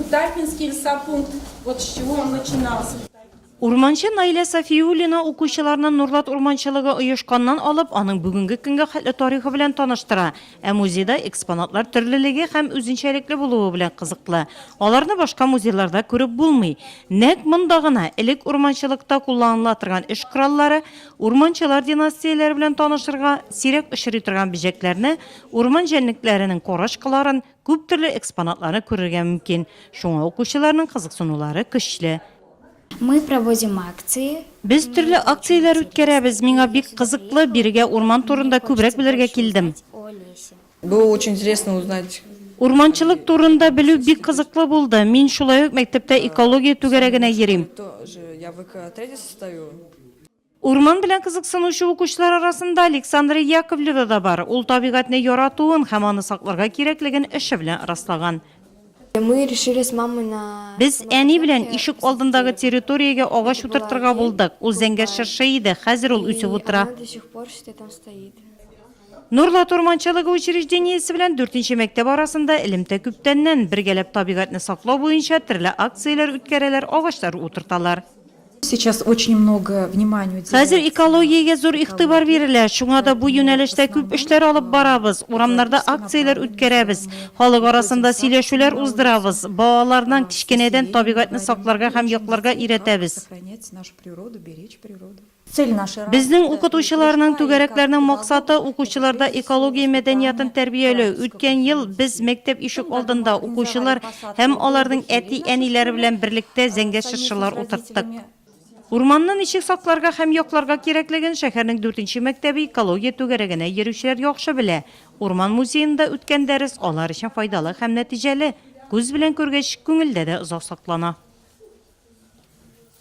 Кутапинский лесопункт, вот с чего он начинался. Урманчы Наилә Сафиуллина укучыларны Нурлат урманчылыгы оешканнан алып, аның бүгенге көнгә хәтле тарихы белән таныштыра, ә музейда экспонатлар төрлелеге һәм үзенчәлекле булуы белән кызыклы. Аларны башка музейларда күреп булмый. Нәкъ монда гына элек урманчылыкта кулланыла торган эш кораллары, урманчылар династияләре белән танышырга, сирәк очрый торган бөҗәкләрне, урман җәнлекләренең карачкыларын, Күп төрле экспонатларны күрергә мөмкин, шуңа укучыларның кызыксынулары көчле. Мы проводим акции. Без төрле акцияләр үткәрәбез. Миңа бик кызыклы, бирегә урман турында күбрәк белергә килдем. Было очень интересно узнать. Урманчылык турында белү бик кызыклы булды. Мин шулай ук мәктәптә экология түгәрәгенә йөрим. Урман белән кызыксынучы укучылар арасында Александра Яковлева да бар. Ул табигатьне яратуын һәм аны сакларга кирәклеген эше белән раслаган. Без әни белән ишек алдындагы территориягә агач утыртырга булдык. Ул зәңгәр чыршы иде, хәзер ул үсеп утыра. Нурлат урманчылыгы учреждениесе белән дүртенче мәктәп арасында элемтә күптәннән. Бергәләп табигатьне саклау буенча төрле акцияләр үткәрәләр, агачлар утырталар. Хәзер экологиягә зур игътибар бирелә, шуңа да бу юнәлештә күп эшләр алып барабыз, урамнарда акцияләр үткәрәбез, халык арасында сөйләшүләр уздырабыз, балаларның кечкенәдән табигатьне сакларга һәм якларга өйрәтәбез. Безнең укытучыларның, түгәрәкләрнең максаты, укучыларда экология мәдәниятын тәрбияләү. Үткән ел без мәктәп ишек алдында укучылар һәм аларның әти-әниләре белән берлектә зәңгәр чыршылар утырттык. Урманны ничек сакларга һәм якларга кирәклеген шәһәрнең дүртенче мәктәбе экология түгәрәгенә йөрүчеләр яхшы белә. Урман музеенда үткән дәрес алар өчен файдалы һәм нәтиҗәле. Күз белән күргәч, күңелдә дә озак саклана.